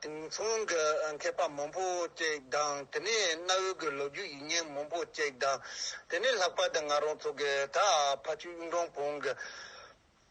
དེང་སང་གི་མཁས་པ་མང་པོ་ཅིག་དང་དེ་ནས་གནའ་བོའི་གི་ལོ་རྒྱུས་ཡིག་རྙིང་མང་པོ་ཅིག་དང་དེ་ནས་ལྷག་པར་དུ་ང་རང་ཚོ་གི་ད་ཕ་ཆོས་གཡུང་དྲུང་བོན་གྱི།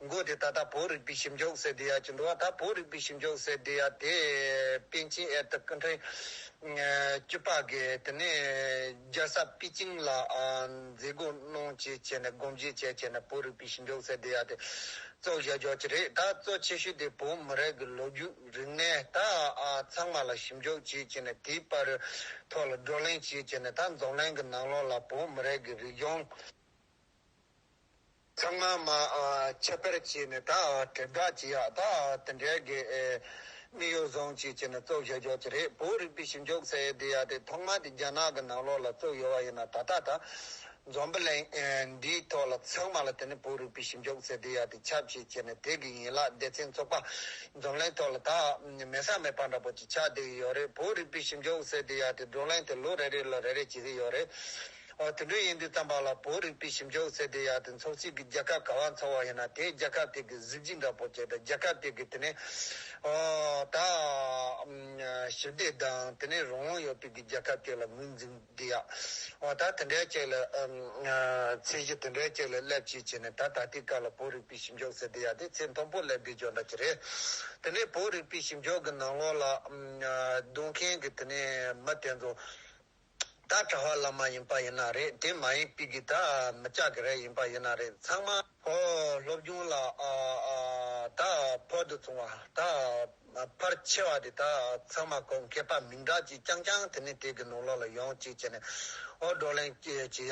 མགོ་དེ་ད་ལྟ་བོད་རིག་པའི་ཞིབ་འཇུག་སའི་སྡེ་ཡག་ཅིག་འགྲོ་བ་དག་བོད་རིག་པའི་ཞིབ་འཇུག་སའི་སྡེ་ཡག་དེ་པེ་ཅིན་ཨེར་ཏི་ཀི་ཁྲེང་བཅུ་པ་གིས་དེ་ནས་རྒྱལ་ས་པི་ཅིང་ལ་མཛད་སྒོ་གནང་བྱས་བྱས་ནས་སྒོམ་བཞེས་བྱས་བྱས་ནས་བོད་རིག་པའི་ཞིབ་འཇུག་སའི་སྡེ་ཡག་དེ་གཙོ་བཞག་རྒྱག་གི་རེད་ད་གཙོ་ཆེ་ཤོས་དེ་བོད་མི་རིགས་ཀྱི་ལོ་རྒྱུས་རིག་གནས་དག་ཚང་མ་ལ་ཞིབ་འཇུག་བྱས་བྱས་ནས་དེའི་པར་ཐོག་ལ་བགྲོ་གླེང་བྱས་བྱས་ནས་ད་འཛམ་གླིང་གི་ནང་ལོགས་ལ་བོད་མི་རིགས་ཀྱི་རིག་གཞུང། ཚང་མ་མ་ཁྱབ་པར་བྱས་ནས་ད་དྲིལ་བསྒྲགས་བྱེད་ཡག་ད་དེ་འདྲའི་དགེ་མི་གཡོ་བཟང་ཅིག་བྱས་ནས་བཙོག་བཞག་རྒྱག་གི་རེད་བོད་རིག་པའི་ཞིབ་འཇུག་ཟེར་འདི་ཡག་དེ་ཐོག་མ་དེ་རྒྱ་ནག་གི་ནང་ལོགས་ལ་བཙུགས་ཡོད་བ་ཡིན་ན་ད་ལྟ་ད་འཛོམས་པ་ལས་འདིའི་ཐོག་ལ་ཚང་མ་ལ་དེ་ནི་བོད་རིག་པའི་ཞིབ་འཇུག་ཟེར་འདི་ཡག་དེ་ཁྱབ་བྱེད་བྱས་ནས་དེ་གི་ཡན་ལག་སྡེ་ཚན་བཙུགས་པ་འཛོམས་ལན་ཐོག་ལ་ད་མེད་ས་མེད་པ་འདྲ་པོ་ཅིག་ཆགས་བསྡད་ཡོད་རེད་བོད་རིག་པའི་ཞིབ་འཇུག་ཟེར་འདི་ཡག་དེ་བགྲོ་གླེང་དེ་ལོ་རེ་རེ་ལ་རེ་རེ་བྱེད་གི་ཡོད་རེད། ཨོ་དེ་འདྲ་ཡིན་དུས་རྩམ་པ་ལ་བོད་རིག་པའི་ཞིབ་འཇུག་ཟེར་དུས་ཡག་དེ་འཚོགས་ཚིག་གི་རྒྱལ་ཁབ་ག་བ་འཚོགས་བ་ཡིན་ན་དེའི་རྒྱལ་ཁབ་དེ་གི་གཟི་བརྗིད་འདྲ་པོ་བྱས་ད་རྒྱལ་ཁབ་དེ་གི་དེ་ནས་ཨོ་ད་ཞི་བདེ་དང་དེ་ནས་རང་དབང་ཡོད་པའི་གི་རྒྱལ་ཁབ་དེ་ལ་ངོས་འཛིན་བདེ་ཡག་ཨོ་ད་དེ་འདྲའི་ཅིག་ལ་ཚད་གཞི་དེ་འདྲའི་ཅིག་ལ་སླེབས་ཅིག་བྱས་ནས་ད་ད་ལྟའི་སྐབས་ལ་བོད་རིག་པའི་ཞིབ་འཇུག་ཟེར་དུས་ཡག་དེ་ཚད་མཐོན་པོ་སླེབས་དུས་ཇོ་འདྲ་ཅིག་རེད་དེ་ནས་བོད་རིག་པའི་ཞིབ་འཇུག་གི་ནང་ལོགས་ལ་སྡོད་མཁན་གི་དེ་ནས་མི་དེ་ཚོ། ད་གྲྭ་བ་ལ་མ་ཡིན་པ་ཡིན་ན་རེད་དེ་མ་ཡིན་པི་གི་ད་མི་ཅག་གི་རེད་ཡིན་པ་ཡིན་ན་རེད་ཚང་མ། ཧོ། སློབ་སྦྱོང་ལ་ཨ་ཨ་ད་ཕོ་དུ་ཚོང་བ་ད་ཕར་ཆེ་བ་དེ་ད་ཚང་མ་གོ་མཁས་པ་མིང་གྲགས་ཅིག་རྐྱང་རྐྱང་དེ་ནས་དེ་གི་ནོར་ལོག་ལ་ཡོང་ཅིག་བྱས་ནས་ཨོ་བགྲོ་གླེང་བྱེད་ཡག་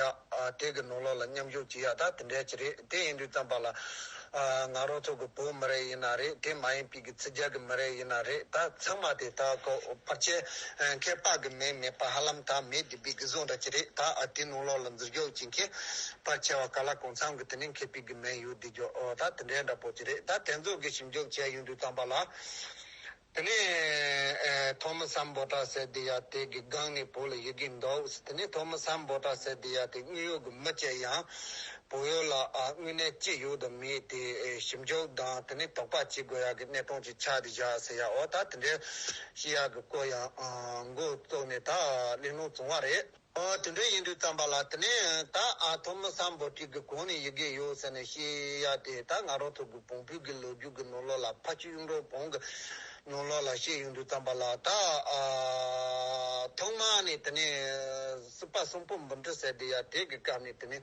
དེ་གི་ནོར་ལོག་ལ་མཉམ་ཞུགས་བྱེད་ཡག་ད་དེ་འདྲས་ཅིག་རེད་དེ་ཡིན་དུས་ཙམ་པ་ལ། ང་རང་ཚོ་གི་བོད་མི་རེད་ཡིན་ན་རེད་དེ་མ་ཡིན་པི་གི་ཚི་རྒྱ་གི་མི་རེད་ཡིན་ན་རེད་ད་ཚང་མ་དེ་དག་གི་བར་ཆད་མཁས་དཔག་གི་མེད་མེད་པ་ཧ་ལམ་ད་མེད་དེ་པི་གི་བཟོ་འདྲ་ཅི་རེད་ད་ཨ་དེ་ནང་ལོག་ལ་འཛུལ་རྒྱོག་ཅི་མཁས་པར་ཆེ་བ་ག་ལ་གང་འཚམ་གི་དེ་ནས་མཁས་པི་གི་མེད་ཡོད་དེ་རྒྱོག་ད་དེ་འདྲའི་འདྲ་པོ་ཅི་རེད་ད་དེ་ཚོ་གི་ཞིབ་འཇུག་བྱས་ཡོང་དུས་ཚང་པ་ལ། དེ་ནས་ཐོ་མི་སམ་བོ་ཏྲ་སེ་དི་ཡ་ཏི་གི་སྒང་ནས་བོ་ལ་ཡི་གི་འདོག་ཟེར་དེ་ནས་ཐོ་མི་སམ་བོ་ཏྲ་སེ་དི་ཡ་ཏི་དངུལ་གཡོག་གི་མི་བཅས་ཡང་བོ་ཡོ་ལ་དངུལ་གནས་ཅི་ཡོད་དུ་མི་ཡི་དེ་ཞིབ་འཇུག་དང་དེ་ནས་དོག་པ་ཅི་དགོས་ཡག་གི་གནས་སྟོང་ཅིག་ཆགས་དི་བཞག་ཟེར་ཡ་འོ་ད་དེ་འདྲའི་ཤི་ཡག་གི་སྐོར་ཡང་མགོ་བཙུགས་ནས་ད་གླེང་སློང་བྱུང་བ་རེད། ཨ། དེ་འདྲ་ཡིན་དུས་བརྩམས་པ་ལ་དེ་ནས་ད་ཨ་ཐོ་མི་སམ་པོ་ཏི་གི་གོང་ནས་ཡི་གེ་ཡོད་ཟེར་ནས་ཤི་ཡ་དེ་ད་ང་རོ་ཐུག་གི་བོང་བུ་གི་ལོ་རྒྱུས་ཀྱི་ནོར་ལོག་ལ་ཕ་ཁྱི་གཡུང་དྲུང་བོང་གི་ནོར་ལོག་ལ་བཤད་ཡོང་དུས་བརྩམས་པ་ལ་ད་ཨ། ཐོག་མ་ནས་དེ་ནས་སྲིད་པ་གསུམ་པོ་འབུམ་ཁྲི་ཟེར་དེ་ཡ་དེ་གི་སྐབས་ནས་དེ་ནས་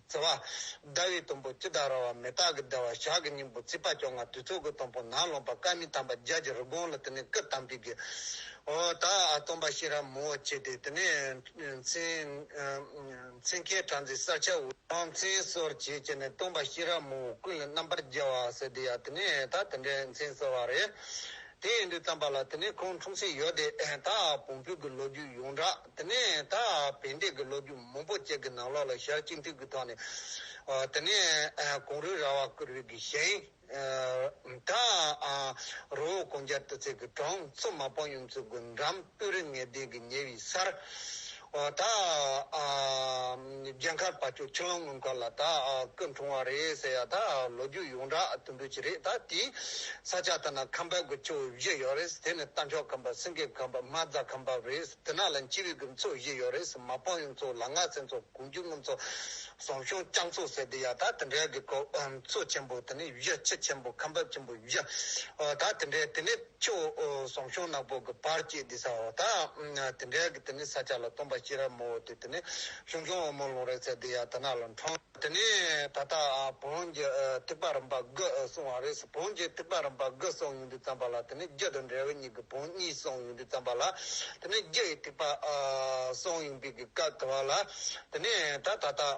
བརྩེ་བ། ཟླ་བའི་དུམ་བུ་ཅི་ལྟར་ར་བ་མེ་སྟག་གི་བདེ་བ་ཞག་གི་སྙིང་པོ་རྩིས་པ་ཅོག་ང་དུས་ཚོད་ཀྱི་དང་པོ་ནགས་ཀློང་པ་སྐལ་མེད་དམ་པ་རྒྱལ་གྱི་རི་སྒོང་ལ་དེ་ནས་སྐུ་བལྟམས་པའི་དགེ། འོ་ད་སྟོན་པ་ཤེས་རབ་མང་བོ་བྱས་ཏེ་དེ་ནས། མཚན་ཁའི་གྲ་འཛིན་གསར་ཆ་འུར། ཁང་མཚན་གསོར་བྱེད་བྱས་ནས་སྟོན་པ་ཤེས་རབ་མང་བོ་ཀུན་ལ་རྣམ་པར་རྒྱལ་བ་ཟེར་དེ་ཡང་དེ་ནས་ད་དེ་འདྲའི་མཚན་གསོལ་བ་རེད། དེ་ཡིན་དུས་བརྩམས་པ་ལ་དེ་ནས་ཁོང་འཁྲུངས་ཚེ་ཡོད་དེ། ད་བོང་བུ་གི་ལོ་རྒྱུས་ཡོངས་གྲགས། དེ་ནས་ད་བན་དེ་གི་ལོ་རྒྱུས་མང་པོ་བཅས་ཀྱི་ནང་ལོགས་ལ་ཞར་གཅིག་འདུས་ཀྱི་ཐོག་ནས། དེ་ནས་གུང་རུས་ར་བ་ཀུ་རུས་ཀྱི་ཞིང། ད་རོ་བོ་གོང་རྒྱལ་དུ་ཚེ་གི་གྲོང་ཚོ་མ་པང་ཡུམ་ཚུལ་དགུ་འགྲམ་སྤོས་རི་ངད་ལྡན་གྱི་ཉེ་བའི་སར། ད། རྒྱལ་ཁབ་བ་ཅོ་ཁྲི་ལམ་དངུལ་མཁར་ལ་ད་སྐུ་འཁྲུངས་བ་རེད་ཟེར་ཡ་ད་ལོ་རྒྱུས་ཡོངས་གྲགས་ལྟུང་འབུད་ཀྱི་རེད་ད་དེའི་ས་ཆ་ད་ན་ཁམས་པའི་དགུ་ཆོས་བཞི་ཡོད་རེད་དེ་ནི་རྟ་མཆོག་ཁམས་པ་སེང་གེ་ཁམས་པ་མ་རྫ་ཁམས་པ་རེད་དེ་ན་ལ་སྤྱི་བའི་དགུ་མཚོ་བཞི་ཡོད་རེད་མ་སྤང་ཡུམ་མཚོ་ལ་ངག་སེང་མཚོ་གུང་རྒྱུ་དངུལ་མཚོ་ཟོམ་གཤོང་སྐྱང་མཚོ་ཟེར་དེ་ཡ་ད་དེ་འདྲའི་དགུ་མཚོ་ཆེན་པོ་དེ་ནི་བཞི་ཆེ་ཆེན་པོ་ཁམས་པ་ཆེན་པོ་བཞི་ད་དེ་འདྲའི་དེ་ནི། ཆུ་བོ་ཟོམ་གཤོང་ནག་པོ་གི་བར་བཅས་འདི་ཟ་བ་དང། དེ་འབྲེལ་གྱི་དེ་ནི་ས་ཆ་ལ་སྟོན་པ་ཤེས་རབ་མོ་བོ་དེ་དེ་ནི་གཞུང་སྐྱོང་བ་མོ་ལུང་རིག་ཚེ་འདི་ཡང་དེ་ནག་ལ་འཁྲུངས། དེ་ནས་ད་ལྟ་བོན་གྱི་ཐེག་པ་རིམ་པ་དགུ་གསུངས་བ་རེད་བོན་གྱི་ཐེག་པ་རིམ་པ་དགུ་གསུངས་ཡོང་དུས་བརྩམས་པ་ལ་དེ་ནི་རྒྱུད་དང་འབྲས་བུ་གཉིས་ཀྱི་བོན་གཉིས་གསུངས་ཡོང་དུས་བརྩམས་པ་ལ་དེ་ནི་རྒྱུད་ཀྱི་ཐེག་པ་གསུངས་ཡོང་དུས་ཀྱི་སྐབས་དེ་བ་ལ་དེ་ནས་ད་ད་ལྟ།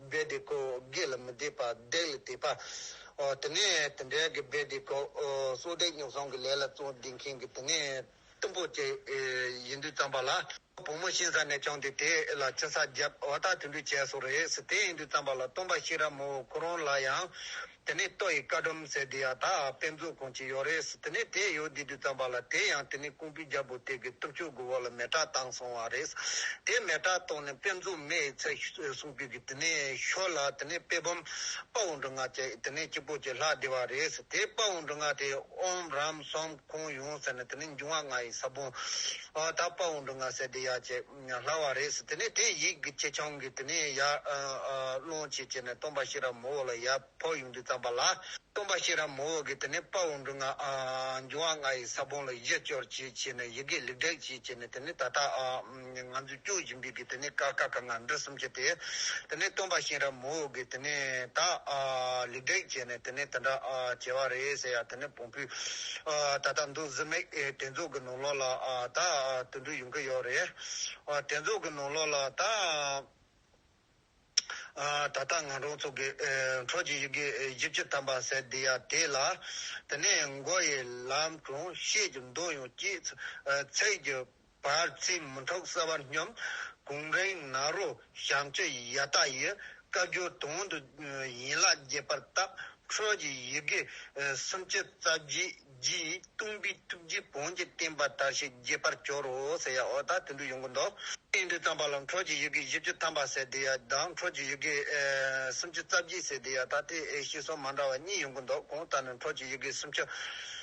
རྦད་དེ་ཁོ་བོ་སྒེག་ལ་མི་བདེ་བར་བརྡེག་ལ་བརྡེག་པ། ཨོ། དེ་ནས་དེ་འདྲའི་གི་རྦད་དེ་ཁོ་བོ་སྲོག་བདེ་སྙོབས་སོང་གི་ལས་ལ་བརྩོན་བསྡད་མཁན་གི་དེ་ནས་གཏུམ་པོ་བཅས་ཡིན་དུས་བརྩམས་པ་ལ། བུ་མོ་གཤིན་ས་ནས་བྱུང་སྟེ་དེ་ལ་ཆུ་ས་བརྒྱབ་བ་དག་དུད་འགྲོས་བྱས་སོ་རེད་ཟེར་དེ་ཡིན་དུས་བརྩམས་པ་ལ་སྟོན་པ་ཤེས་རབ་མོ་ཁོ་རང་ལ་ཡང་དེ་ནས་ཏོ་ཡི་བཀའ་སྒྲོམ་ཟེར་དེ་ཡང་དག་དཔེ་མཛོད་ཁང་ཅིག་ཡོད་རེད་དེ་ནས་དེ་ཡོད་དེ་དུས་ཙམ་པ་ལ་དེ་ཡང་དེ་ནས་ཀོང་པོའི་རྒྱལ་པོ་དེ་གི་སྟོབས་ཆོས་དགུ་བོ་ལ་མེ་ཏྲག་བཏང་སོང་བ་རེད། དེ་མེ་ཏྲག་བཏང་ནས་དཔེ་མཛོད་མེ་ཡི་ཚད་སྲུང་དུས་ཀྱི་དེ་ནས་ཤོར་ལ་དེ་ནས་དཔེ་བམ་དཔའ་བོ་འབྲུ་ལྔ་བཅས་དེ་ནས་སྐྱིད་པོ་བཅས་ལྷག་བདེ་བ་རེད་དེ་དཔའ་བོ་འབྲུ་ལྔ་དེ་ཨོམ་རམ་སོམ་ཁོང་ཡོང་ཟེར་ནས་དེ་ནས་འབྱུང་བ་ལྔ་ཡི་ས་བོན་དག་དཔའ་བོ་འབྲུ་ལྔ་ཟེར་དེ་ཡ་བཅས། སླ་བ་རེད་ཟེར་དེ་ནས་དེས་ཡིག་གི་ཆེ་ཆུང་གིས་དེ་ནས་ཡར་སློང་བྱེད་བྱས་ནས་སྟོན་པ་ཤེས་རབ་མོ་འོ་ལ་ཡར་ཕོག་ཡོང་དུས་བརྩམས་པ་ལ་སྟོན་པ་ཤེས་རབ་མོ་འོ་གིས་དེ་ནས་དཔའ་བོ་འབྲུ་ལྔ་འབྱུང་བ་ལྔ་ཡི་ས་བོན་ལ་གཞི་བཅོལ་བྱེད་བྱས་ནས་ཡི་གེ་ལེགས་བསྒྲིགས་བྱེད་བྱས་ནས་དེ་ནས་ད་ལྟ་ང་ཚོས་སྐྱོན་བཞིན་པའི་གིས་དེ་ནས་ཀ་ཁ་ག་ང་འབྲུ་གསུམ་བྱས་ཏེ། དེ་ནས་སྟོན་པ་ཤེས་རབ་མོ་འོ་གིས་དེ་ནས་ད་ལེགས་བསྒྲིགས་བྱས་ནས་དེ་ནས་དེ་འདྲ་བྱས་པ་རེད་ཟེར་ཡ་དེ་ནས། པོས། ད་ལྟ་འདུག་བཟི་མེད་དྲན་རྫོགས་ཀྱི་ནོར་ལོག་ལ་ད་དུ་འདུག་ཡོང་གི་ཡོད་རེད། དྲན་རྫོགས་ཀྱི་ནོར་ལོག་ལ་ད། ད་ལྟ་ང་རང་ཚོ་གི་འཕྲོ་གྱི་ཡི་གེ་བཞི་བཅུ་ཐམ་པ་ཟེར་འདི་ཡ་དེ་ལ། དེ་ནས་མགོ་ཡི་ལམ་གྲོང་ཤེས་ཀྱི་མདོ་ཡང་སྐྱིད། ཚེགས་ཀྱི། བར་རྩིས་མུན་ཐོག་གསལ་བར་སྙོམས། གུང་རེངས་ནག་རོ་བྱམས་བརྩེ་ཡ་ད་ཡི། བཀའ་བརྒྱུད་དོན་དུ་ཡན་ལག་རྒྱས་པར་བཏབ། ཁྲོད་ཀྱི་ཡི་གེ་སུམ་ཅུ་རྩ་བརྒྱད་ཀྱིས་བཏུམས་པའི་ཐུགས་རྗེ་བོན་གྱི་བསྟན་པ་དར་ཞིང་རྒྱས་པར་གྱུར་རོ། ཟེར་ཡ་འོ་ད་དུད་འགྲོའི་ཡོངས་ཀུན་ཏུ། བསྟན་དུས་བརྩམས་པ་ལ་ཁྲོད་ཀྱི་ཡི་གེ་བཞི་བཅུ་ཐམ་པ་ཟེར་དེ་ཡ་ད་ཁྲོད་ཀྱི་ཡི་གེ་སུམ་ཅུ་རྩ་བརྒྱད་ཟེར་དེ་ཡ་ད་སྟེ་ཤེས་གསུང་མ་འདྲ་བ་གཉིས་ཡོངས་ཀུན་ཏུ་གོང་ལྟར་ནི་ཁྲོད་ཀྱི་ཡི་གེ་སུམ་ཅུ།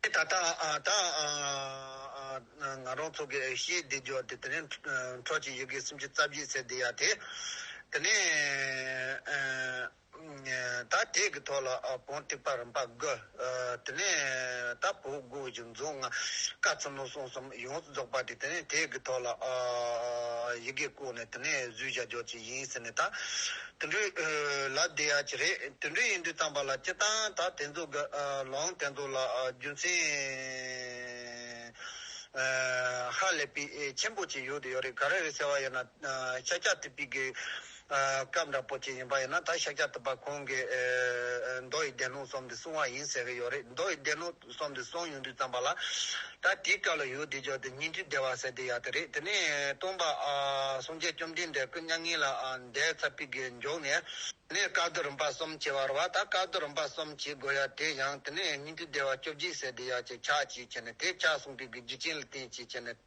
དེ་ད་ལྟ་ད་ང་རང་ཚོ་གི་ཤེས་བདེ་རྒྱོ་དེ་དེ་ནས་འཕྲོ་གཅིག་ཡི་གེ་སུམ་ཅུ་རྩ་བཞི་ཟེར་དེ་ཡ་དེ་དེ་ནས་ད་དེ་གི་ཐོག་ལ་བོང་སྟེགས་པ་རིམ་པ་དགུ་དེ་ནས་ད་བུ་དགུ་བཞི་མཛོ་ལྔ་ཀ་ཚུན་མོ་སོང་གསུམ་ཡོངས་སུ་རྫོགས་པ་དེ་དེ་ནས་དེ་གི་ཐོག་ལ་ཡི་གེ་བཀོད་ནས་དེ་ནས་བཟོས་བྱ་རྒྱོ་ཅིག་ཡིན་ཟེར་ནས་ད། དུད་འགྲོའི་ལ་བདེ་ཡ་གྱི་རེད་དུད་འགྲོའི་ཡིན་དུས་གཏམ་པ་ལ་སྤྱི་བཏང་ད་དེ་ཚོ་དགའ་ལོང་དེ་ཚོ་ལ་རྒྱུ་མཚན་ཧ་ལས་པའི་ཆེན་པོ་ཅིག་ཡོད་དུ་ཡོད་རེད་ག་རེ་རེད་ཟེར་བ་ཡིན་ན་ཤཱཀྱ་ཐུབ་པི་གི་སྐབས་འདྲ་པོ་ཅིག་ཡིན་པ་ཡིན་ན་ད་ཤཱཀྱ་ཐུབ་པ་ཁོང་གིས་མདོ་ཡི་སྡེ་སྣོད་གསུམ་དེ་གསུང་བ་ཡིན་ཟེར་གི་ཡོད་རེད་མདོ་ཡི་སྡེ་སྣོད། བསམ་དེ་སོང་ཡོང་དུས་བརྩམས་པ་ལ། ད་དེའི་སྐབས་ལ་ཡོད་དེ་འཇོག་དེ་སྙིང་ཐིག་བདེ་བར་གསལ་དེ་ཡག་དེ་རེད་དེ་ནས་སྟོང་པ། སངས་རྒྱས་བཅོམ་ལྡན་འདས་སྐུ་མྱ་ངན་ལ་འདས་ཚར་པའི་དགེ་མགྱོགས་ནས། དེ་ནས་བཀའ་བསྡུ་རིམ་པ་གསུམ་བྱེད་བར་བ་ད་བཀའ་བསྡུ་རིམ་པ་གསུམ་བྱེད་དགོས་ཡ་དེ་ཡང་དེ་ནས་སྙིང་ཐིག་བདེ་བ་བཅོ་བརྒྱད་གསལ་དེ་ཡག་ཅེས་ཕྱག་བྱས་བྱས་ནས་དེ་ཕྱག་གསུངས་པའི་དགེ་བརྒྱུད་ཅན་ལ་བསྟན་ཅེས་བྱས་ནས།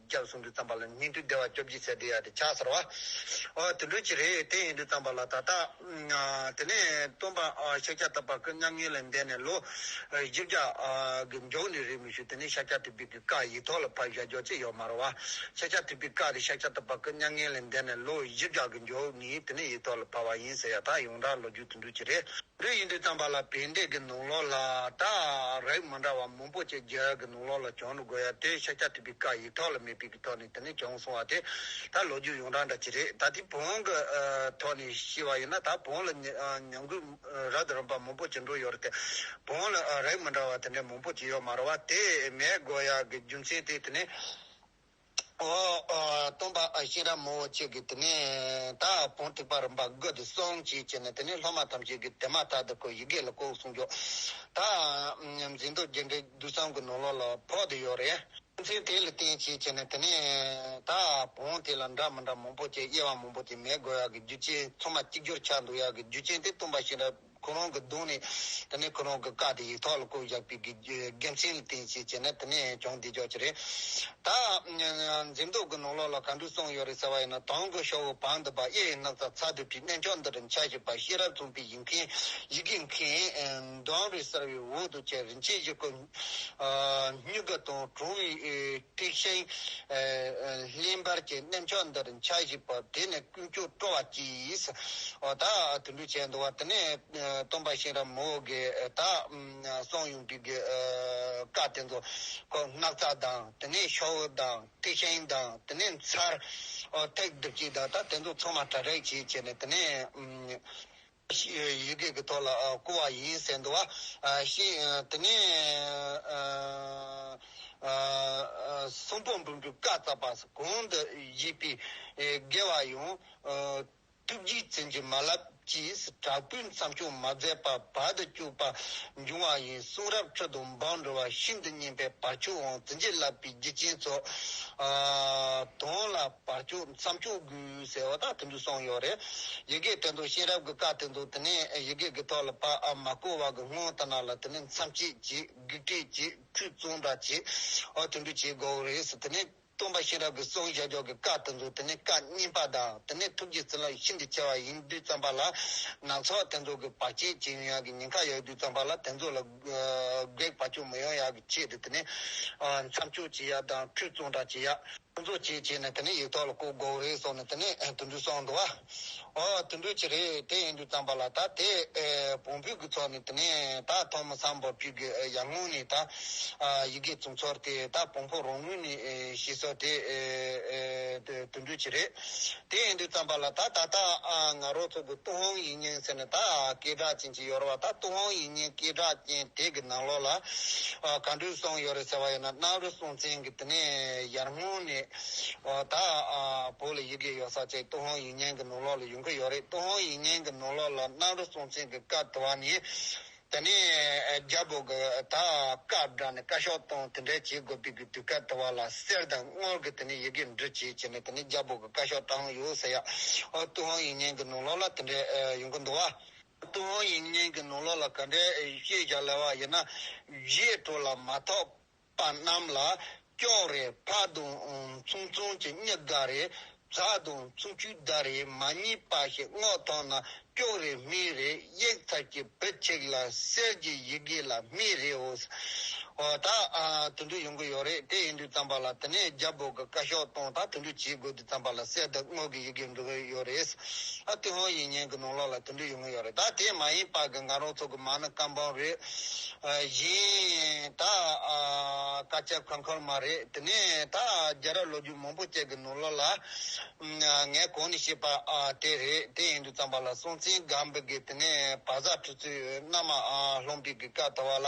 སྐྱབས་གསུམ་དུ་བརྩམས་པ་ལ་སྙིང་ཐིག་བདེ་བ་སྐྱོབ་ཀྱི་ཚད་དུ་ཡང་དེ་ཆགས་ཚར་བ། དེ་འགྲོས་ཀྱི་རེ་ལྟོས་ཡིན་དུ་བརྩམས་པ་ལ་ད་ལྟ། དེ་ནས་སྟོན་པ་ཤཱཀྱ་ཐུབ་པ་སྐུ་མཉམ་ཉིད་ལ་འདས་ནས་ལོ་བཞི་བརྒྱ་གི་མགྱོགས་ནས་རེ་མི་ཞུ་དེ་ནས་ཤཱཀྱ་ཐུབ་པའི་གི་ཀ་ཡིག་ཐོག་ལ་ཕ་བཞག་མགྱོགས་ཚད་ཡོད་མ་རུང་བ། ཤཱཀྱ་ཐུབ་པའི་ཀ་དེ་ཤཱཀྱ་ཐུབ་པ་སྐུ་མཉམ་ཉིད་ལ་འདས་ནས་ལོ་བཞི་བརྒྱ་གི་མགྱོགས་ནས་དེ་ནས་ཡིག་ཐོག་ལ་ཕབ་བ་ཡིན་ཟེར་ཡང་དག་ཡོངས་གྲགས་ལོ་རྒྱུས་དེ་འགྲོས་ཀྱི་རེ། རིགས་ཡིན་དུས་དམ་པ་ལ་ཕན་བདེ་གི་ནོར་ལོག་ལ་དག་རིགས་མ་འདྲ་བ་མང་པོ་བཅས་རྒྱལ་གི་ནོར་ལོག་ལ་གྱོང་རུ་དགོས་ཡ་དེའི་ཤ་ཁྱ་ཐུབ་པའི་བཀའ་ཡིག་ཐོག་ལ་མེད་པའི་གི་ཐོག་ནས་དེ་ནས་གྱོང་སོང་བ་དེ་ད་ལོ་རྒྱུས་ཡོངས་གྲགས་འདྲ་ཅི་རེད་ད་དེའི་བོང་གི་ཐོག་ནས་ཤི་བ་ཡིན་ན་ད་བོང་ལ་ཉམས་རྒུད་ར་ད་རུམ་པ་མང་པོ་བྱེད་འགྲོ་ཡོད་རེད་དེ་བོང་ལ་རིགས་མ་འདྲ་བ་དེ་འདྲ་མང་པོ་བྱེད་ཡོད་མ་རེད་བ་དེ་མེད་དགོས་ཡ་གི་རྒྱུ་མཚན་དེ་དེ་ནས། སྟོན་པ་ཨ་ཤེ་ར་མོ་ཅེས་ཀྱིས་དེ་ནས་ད་བོང་ཐིགས་པ་རིམ་པར་བགོས་ཏེ་སོང་ཅིག་ཅེས་ནས་དེ་ནས་སློབ་མ་ཐམས་ཅད་ཀྱིས་དེ་མ་ཐག་ཏུ་ཁོའི་ཡི་གེ་ལ་ལྐོག་གསུང་རྒྱོ། ད་འཛིན་རྡོ་རྗེ་འདྲེ་བདུད་སྲང་གི་ནོར་ལོག་ལ་ཕོག་ཏུ་ཡོད་རེད། ཚེ་དེ་ལ་བརྟེན་ཅིག་ཅེས་ནས་དེ་ནས་ད་བོང་དེ་ལ་འདྲ་མི་འདྲ་མང་པོ་བཅས་དབྱེ་བ་མང་པོ་བཅས་མེད་དགོས་ཡག་གི་རྒྱུ་ཅན་ཚོ་མ་གཅིག་གྱུར་ཆགས་འདུག་ཡག་གི་རྒྱུ་ཅན་དེ་སྟོན་པ་ཤེས་རབ། ཁོ་རང་གི་གདོང་ནས་དེ་ནས་ཁོ་རང་གི་བཀའ་དེ་ཡིག་ཐོག་ལ་བཀོད་བཞག་པའི་དགེ་མཚན་ལ་བརྟེན་ཅེས་བྱས་ན་དེ་ནས་བྱུང་བདེ་འཇགས་ཀྱི་རེད། ད། འཛེམ་དོགས་ཀྱི་ནོར་ལོག་ལ་ག་འདྲུ་གསུངས་ཡོད་རེད་ཟེར་བ་ཡིན་ན་དང་གི་ཤོག་བུ་བང་དུ་བབས་གཡས་ཡི་སྣག་ཚ་ཚ་དུད་དུད་གནས་མཆོག་འདི་རུ་འཆའ་བཞིན་པ་ཤེས་རབ་མཚུངས་པའི་ཡིག་མཁན་ཡི་གེ་མཁན། འབྲང་རི་གསར་བའི་འོག་ཏུ་བཅས་རིན་ཆེན་བཞི་སྐུ། སྨྱུག་ག་དང་གྲོང་བའི། ཐེག་ཆེན་གླིང་བར་གྱི་གནས་མཆོག་འདིར་འཆར་གཞི་བ་དེ་ནི་ཀུན་སྤྱོད་སྤྲོ་བ་གྱིས། བདག་དུད་འགྲོ་བྱས་འདུག་བ་དེ་ནས་སྟོན་པ་གཤེན་རབ་མོ་གི་དག་སོང་ཡོངས་འདུས་ཀྱི་བཀའ་དེ་ཚོ་སྔགས་རྩ་དང་དེ་ནས་ཤོག་བུ་དང་ཐེག་ཆེན་དང་དེ་ནས་མཚར་ཐེག་བདུད་བཞི་དང་དེ་ཚོ་ཚང་མ་གྲ་སྒྲིག་བྱས་བྱས་ནས་དེ་ནས། ཞེས་ཡི་གེ་ཀྱི་ཐོག་ལ་བསྐུར་བ་ཡིན་ཟེར་འདུག་ཤིང། དེ་ནས། གསུང་པོ་འབུམ་དྲུག་བཀའ་སྩལ་པ། གང་འདི་བཞེས་པའི་དགེ་བ་ཡང། ཐུགས་རྗེས་བཙན་གྱི་མ་བསླབ་ཀྱིས་དྲག་པོའི་མཚམས་སྐྱོང་མ་མཛད་པར་བར་དུ་གཅོད་པ་འབྱུང་བ་ཡིན་གསུང་རབ་ཁྲོད་དུ་འབངས་འགྲོ་བ་ཤིན་ཏུ་སྙན་པའི་བར་ཆོད་དབང་བཙན་གྱིས་བསླབ་པའི་རྒྱུ་རྐྱེན་ཚོགས། དོན་ལ། བར་སྐྱོད་མཚམས་སྐྱོད་དགོས་ཟེར་བ་དང་མཐུན་འགྲིག་སོང་ཡོད་རེད། ཡི་གེ་དེ་ཚོ་ཤེས་རབ་ཀྱི་བཀའ་དེ་ཚོ་དེ་ནས་ཡི་གེ་གི་ཐོག་ལ་པདྨ་བཀོད་བ་གི་སྔོན་ལྟར་ན་ལ་དེ་ནས་མཚམས་སྐྱེད་བྱེད་བགེགས་བསྐྲད་བྱེད་ཁྲུས་གཙང་སྦྲ་བྱེད་འོ་མཐུན་འགྲིག་བྱེད་དགོས་རེད་དེ་ནས་སྟོན་པ་ཤེས་རབ་ཀྱི་གསུང་ཞལ་ཕྱོགས་ཀྱི་བཀའ་དེ་ཚོ་དེ་ནས་བཀའ་རྙིང་པ་དང་དེ་ནས་ཐུགས་ཀྱི་བརྩེ་ལམ་ཤིན་ཏུ་ཆེ་བ་ཡིན་དུས་བརྩམས་པ་ལ། ནང་ཚོགས་དེ་ཚོ་གི་བར་ཆད་བྱེད་ཡོན་ཡང་གི་ཉེན་ཁ་ཡོད་དུས་བརྩམས་པ་ལ་དེ་ཚོ་ལ། སྒེག་པ་ཅུང་མི་ཡོང་ཡ་གི་ཅེས་དེ་ནས་མཚམས་གཅོད་བྱེད་ཡ་དང་ཁྲུས་གཙང་སྦྲ་བྱེད་ཡ། ཕུན་ཚོགས་བྱེད་བྱས་ནས་དེ་ནས་ཡིག་ཐོག་ལ་བཀོད་དགོས་རེད་སོགས་ནས་དེ་ནས་དུད་འགྲོའི་སྲོག་འགྲོ་བ། འོ་དུད་འགྲོའི་ཆེད་རེད་དེ་ཡིན་དུས་བརྩམས་པ་ལ་ད་དེ་བོང་བུ་གི་ཚོགས་ནི་དེ་ནས་ད་ཐོག་མ་སམ་བབ་ཅོལ་གྱི་ཡར་སྔོན་ནས་ད་ཡི་གེ་བཙུགས་ཚོར་དེ་ད་བོང་བུ་རང་ངོས་ནས་ཤི་སོགས་དེ་དུད་འགྲོའི་ཆེད་རེད་དེ་ཡིན་དུས་བརྩམས་པ་ལ་ད་ད་ད་ང་རོགས་ཚོགས་ཀྱི་ཏུ་ཧོང་ཡིན་སྙིང་ཟེར་ནས་ད་སྐད་གྲགས་ཅན། ཡོད་རེད་བ་ད་ཏུང་ཧོང་ཡིག་རྙིང་སྐད་གྲགས་ཅན་དེ་གི་ནང་ལོགས་ལ་ག་འགྲུལ་སོང་ཡོད་རེད་ཟེར་བ་ཡིན་ན་སྣག་རུ་སྲོང་བཙན་གི་དེ་ནས་ཡར་སྔོན་ནས་ད་བོད་ལ་ཡི་གེ་ཡོད་ས་ཅིག་ཏུང་ཧོང་ཡིག་རྙིང་གི་ནང་ལོགས་ལ་ཡོང་གི་ཡོད་རེད་ཏུང་ཧོང་ཡིག་རྙིང་གི་ནང་ལོགས་ལ་སྣག་རུ་སྲོང་བཙན་གི་སྐབས་དེ་བ་ནས་དེ་ནས་རྒྱ་བོད་གི་ད་བཀའ་བསྒྲགས་ནས་བཀའ་ཤོག་གཏོང་དེ་འདྲས་བྱེད་དགོས་པའི་གི་དུས་སྐབས་དེ་བ་ལ་གསེར་དང་དངུལ་གི་དེ་ནས་ཡི་གེ་འབྲི་བྱེད་བྱེད་ནས་དེ་ནས་རྒྱ་བོད་གི་བཀའ་ཤོག་བཏང་ཡོད་ཟེར་ཡག་ཏུང་ཧོང་ཡིག་རྙིང་གི་ནང་ལོགས་ལ་དེ་འདྲས་ཡོང་གི་འདུག་བ། ཏུན་ཧོང་ཡིག་རྙིང་གི་ནང་ལོགས་ལ་ག་འདྲའི་ཤེས་བྱ་སླ་བ་ཡིན་ན། རྗེས་འགྲོ་ལ་མ་ཐོགས་པ་རྣམས་ལ་ཀྱོག་རེ་ཕ་དུང་ཚུང་ཚུང་གྱི་སྙི་དགའ་རེ་བཟའ་དུང་ཚུང་སྐྱུག་བརྡ་རེ་མ་གཉིས་པ་ཞིག་བསྔོགས་ཐོག་ན་ཀྱོག་རེ་སྨིན་རེ་གཡེག་ཚར་གྱི་བུ་གཅིག་ལ་གསེར་གྱི་ཡི་གེ་ལ་སྨིན་རེ་འོ་ད་དུད་འགྲོ་ཡོང་གི་ཡོད་རེད་དེ་ཡིན་དུས་རྩམ་པ་ལ་དེ་ནས་རྒྱ་བོད་ཀྱི་བཀའ་ཤོག་གཏོང་ད་དུད་འགྲོ་བྱེད་དགོས། བརྩམས་པ་ལ་གསལ་འདུག་དངོས་ཀྱི་ཡི་གེ་འབྲི་དགོས་ཡོད་རེད། ཨ་ཏི་ཧོ་ཡིག་སྙན་གྱི་ནང་ལོགས་ལ་དེ་འདྲ་ཡོད་ངེས་ཡོད་རེད་ད་དེ་མ་ཡིན་པར་གི་ང་རང་ཚོ་གི་མ་ནི་སྐམ་པང་རེད། གཞན་དག་དཀའ་སྤྱད་ཁོལ་ཁོལ་མ་རེད་དེ་ནས་ད་རྒྱལ་རབས་ལོ་རྒྱུས་མང་པོ་བཅས་ཀྱི་ནང་ལོགས་ལ། ངས་གོང་ནས་བཤད་པ་དེ་རེད་དེ་ཡིན་དུས་བརྩམས་པ་ལ་སྲོང་བཙན་སྒམ་པོ་གིས་དེ་ནས་བ་བཟའ་ཁྲི་ཚོའི་མནའ་མ་ལྷུང་དུས་ཀྱི་སྐབས་དང་བ་ལ།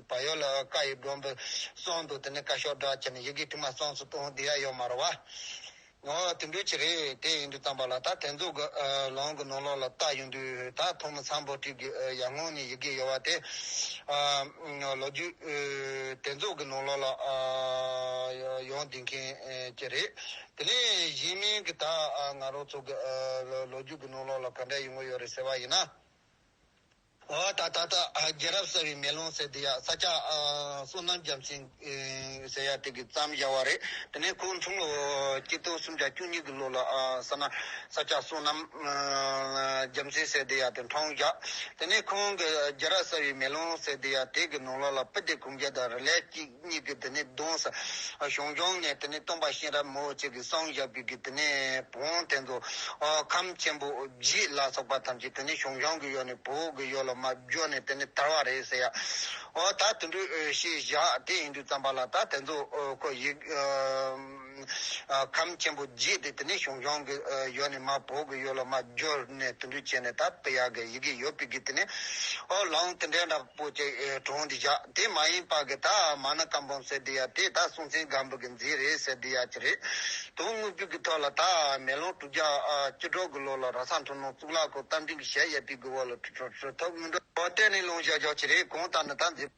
བ་ཡོད་ལ་བཀའ་ཡི་སྒྲོམ་བུ་སོང་འདུག་དེ་ནས་བཀའ་ཤོག་སྒྲ་ཆེ་ནས་ཡི་གེ་དྲི་མ་སོང་སུ་གཏོང་འདི་ཡ་ཡོད་མ་རེད་བ། ངོ། དེ་འདྲུས་ཀྱི་རེད་དེ་ཡིན་དུས་བརྩམས་པ་ལ་ད་དེ་ཚོ་གི་ལོང་གི་ནོར་ལོག་ལ་བལྟ་ཡོང་དུས་ད་ཐོག་མི་ཚང་བོད་ཕྲུག་གི་ཡར་སྔོན་ནས་ཡི་གེ་ཡོད་བ་དེ། ལོ་རྒྱུས། དེ་ཚོ་གི་ནོར་ལོག་ལ་ཡོང་སྡིང་མཁན་གྱི་རེད། དེ་ནས་གཞན་མིན་གི་ད་ང་རོ་ཚོ་གི་ལོ་རྒྱུས་གི་ནོར་ལོག་ལ་ག་འདྲ་ཡོང་གི་ཡོད་རེད་ཟེར་བ་ཡིན་ན། བ་དང་ད་ལྟ་རྒྱལ་རབས་གསར་བའི་མེ་ལོང་ཟེར་འདི་ཡ་ས་སྐྱ་བསོད་ནམས་རྒྱ་མཚན་ཟེར་ཡ་དེ་གི་བརྩམས་བཞག་བ་རེད་དེ་ནས་ཁོའི་འཁྲུངས་ལོ་སྐྱིད་སྟོང་སུམ་བརྒྱ་བཅུ་གཉིས་གི་ལོ་ལ་ས་ན་ས་སྐྱ་བསོད་ནམས་རྒྱ་མཚན་ཟེར་འདི་ཡ་དེ་འཁྲུངས་བཞག་དེ་ནས་ཁོང་གི་རྒྱལ་རབས་གསར་བའི་མེ་ལོང་ཟེར་འདི་ཡ་དེ་གི་ནོར་ལོག་ལ་པི་ཏི་གུང་རྒྱལ་དང་རི་ལས་སྐྱིད། གཉིས་ཀྱིས་དེ་ནས་གདོན་ས་ཞོང་སྐྱོང་ནས་དེ་ནས་སྟོན་པ་གཤེན་རབ་མོ་ཅིག་གིས་སངས་རྒྱས་པའི་གིས་དེ་ནས་བོང་དེ་ཚོ་ཁམས་ཆེན་པོ་བཞི་ལ་སོགས་པ་ཐམས་ཅད་དེ་ནས་ཞོང་སྐྱོང་གི་གཡོག་ནས་བོད་ཀྱི་གཡོག་ལ་མ་བརྗོད་ནས་དེ་ནས་དར་བ་རེད་ཟེར་ཡ་ཨོ་ད་དུད་འགྲོའི་ཞེས་བཞག་དེ་ཡིན་དུས་བརྩམས་པ་ལ་ད་དེ་ཚོ་ཁོ་ཡིག་ཁམས་ཆེན་པོ་བརྗེས་ཏེ་དེ་ནས་ཞུང་ཞོང་གི་ཡོལ་ནས་མ་བོ་གི་ཡོལ་ལ་མ་བསྒྱུར་ནས་དུད་འགྲོས་བྱས་ནས་ད་པི་ཡག་གི་ཡི་གེ་ཡོལ་བི་གིས་དེ་ནས་ཨོ་ལང་དེ་འདྲའི་འདྲ་པོ་ཅིག་གྲོང་འདི་བཞག་དེ་མ་ཡིན་པ་གི་ད་མ་ནི་བཀའ་འབུམ་ཟེར་འདི་ཡ་དེ་ད་སྲོང་བཙན་སྒམ་པོ་གི་མཛེས་རེད་ཟེར་འདི་ཡ་ཅི་རེད་དུང་དངུལ་ཕུད་གི་ཐོག་ལ་ད་མེ་ལོང་དྲུག་བརྒྱ་བཅུ་དྲུག་གི་ལོ་ལ་ར་ས་འཁྲུངས་ནོང་གཙུག་ལག་ཁང་རྟ་མགྲིན་གྱི་ཞལ་གཡས་པི་གི་འོག་ལ་ཁྲི་ཐོབ་དངུལ་འགྲོ་བ་བསྟན་ནས་ལུང་བཤད་རྒྱག་ཅི་རེད་གང་ལྟར་ནི་ད་མཛེས།